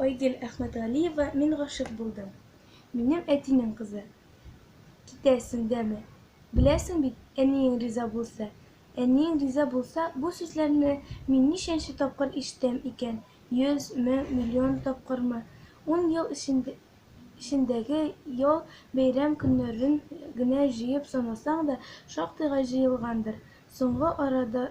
Айгел Әхмәтгалиева мин гашык булдым. Минем әтинең кызы. Китәсең дәме. Беләсең бит, әниең риза булса. Әниең риза булса, бу сүзләрне мин ничәнче тапкыр ишетәм икән? Йөз, мең, миллион тапкырмы? Ун ел эчендә эчендәге ял, бәйрәм көннәрен генә җыеп санасаң да, шактыйга җыелгандыр. Соңгы арада,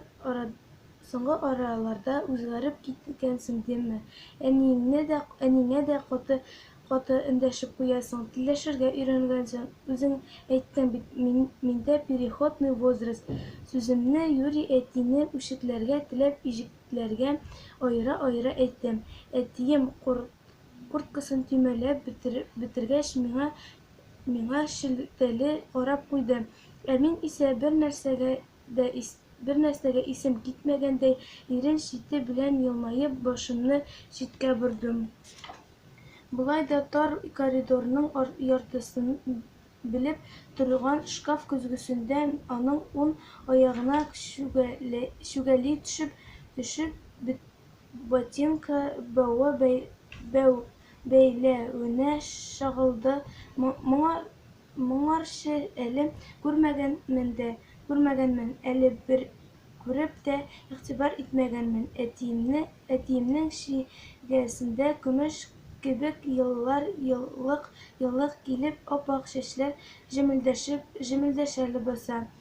соңгы араларда үзгәреп киткәнсең димме? Әниеңне дә, әниңә дә каты, каты эндәшеп куясың, телләшергә өйрәнгәнсең. Үзең әйттең бит, мин, миндә переходный возраст. Сүземне юри әтине үчекләргә теләп иҗекләргә аера-аера әйттем. Әтием, кор, Курткасын төймәләп бетергәч, миңа миңа шелтәле карап куйды. Ә мин исә, бернәрсәгә дә бернәрсәгә исем китмәгәндәй, ирен чите белән елмаеп, башымны читкә бордым. Болай да тар коридорның яртысын белеп торган шкаф көзгесендә аның ун аягына чүгәли төшеп төшеп Ботинка бәуе бәү бәйләвенә чагылды Моңарчы әле күрмәгәнмен дә күрмәгәнмен, әле бер күреп тә игътибар итмәгәнмен Әтиемне, әтиемнең чигәсендә көмеш кебек еллар Еллык-еллык килеп ап-ак чәчләр җемелдәшеп җемелдәшә Ләбаса